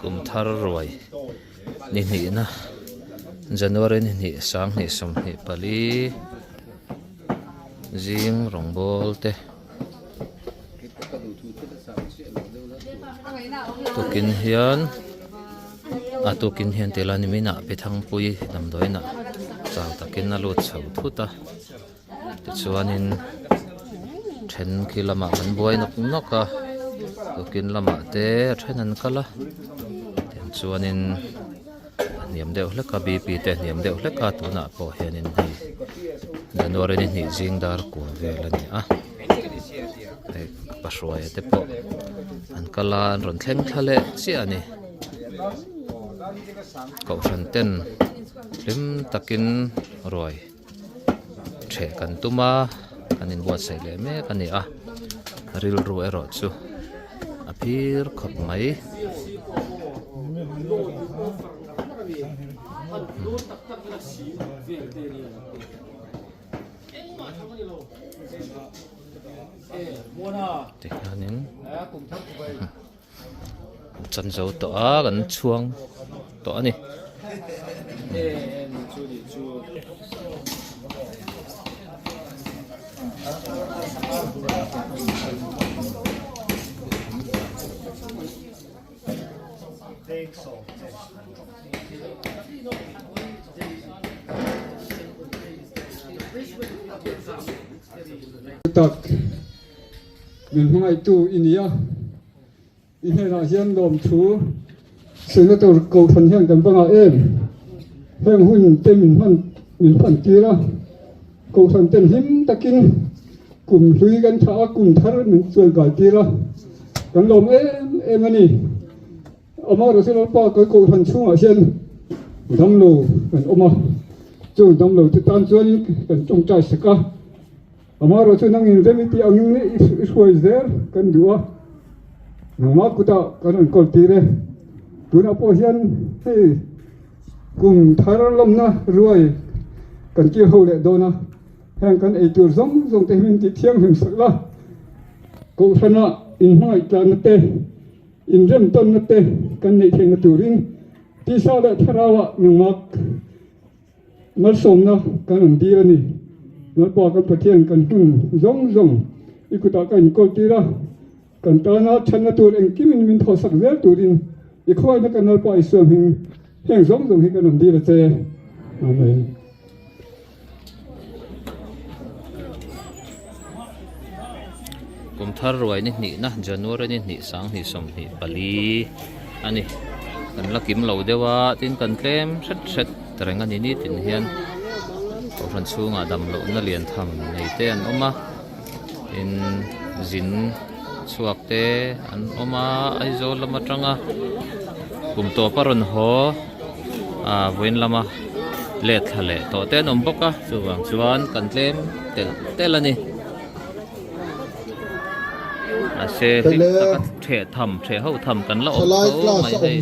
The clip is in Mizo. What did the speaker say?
Kum thar ruai ni hnihna January ni hnih sang hnih sum hnih pali zing rawngbâwl te tukin hian a tukin hian tih a la a ni mai in a pi thangpui damdawiin ah chang takin a lut chho thut a. Tichuanin thenkhi lamah kan buai nawk nawk a, Kukin lamah te a then an kal a, tiang chuanin a hniam deuh hlek a, BP te a hniam deuh hlek a, tunah pawh hianin hei January ni hnih zing dar kual vel a ni a, hei pa hruaia te pawh an kal a, an rawn thleng thla leh chiah a ni, Kohhran ten hlim takin ruai. then kan tum a kan in buatsaih leh mek a ni a rilru erawh chu a phir khawp mai tihian in. chan zo tawh a kan chhuang tawh a ni Min hmangaitu i ni a, i hnenah hian lawmthu silna tur Kohhran hian kan va ngah em? Heng hun te min hman min hman tir a, Kohhran ten hlim takin kum hlui kan thah a, kum thar min chuan kai tir a, kan lawm em em a ni. Amarawhchu Lalpa kal Kohhran chhungah hian damlo kan awm a, chung damlote tan chuan kan tawngtai sak a. Amaherawh chu nang inzem i tih angin i hruai zel kan duh a, nangma kutah kan rawn kawl tir e. Tunah pawh hian hei kum thar lawmna ruai kan kir ho leh dawn a, heng kan ei tur zawng zawng te hi min tih thianghlim sak la. Kohhrana inhmangaih tlanna te, inrem tawnna te kan neih theihna turin tisa leh tharau ah nangma. Hngalsawmna kan rawn dîr a ni. Hnalpua kan Pathian kan hun zawng zawng i kutah ka inkawl tîr a, kan tâna ṭhatna tûr engkim in min thawhsak zel tûrin i khuaina ka Nalpa Isua hming heng zawng zawng hi kan rawn dîr a che. Amen. Kum thar ruai ni hnihna January ni hnih sang hnih sawm hnih pali a ni kan la kim lo deuh a tin kan tlem hret hret reng a ni nitin hian Kohhran chhungah damlohna lian tham nei te an awm a tin zin chhuak te an awm a Aizawl lam atanga kum tawp a rawn haw. Ahh vawiin lama let thla leh tawh te an awm bawk a chuvang chuan kan tlem telh telh a ni mahse hlim taka ṭheh tham ṭheh hauh tham kan la awm tho mai daih.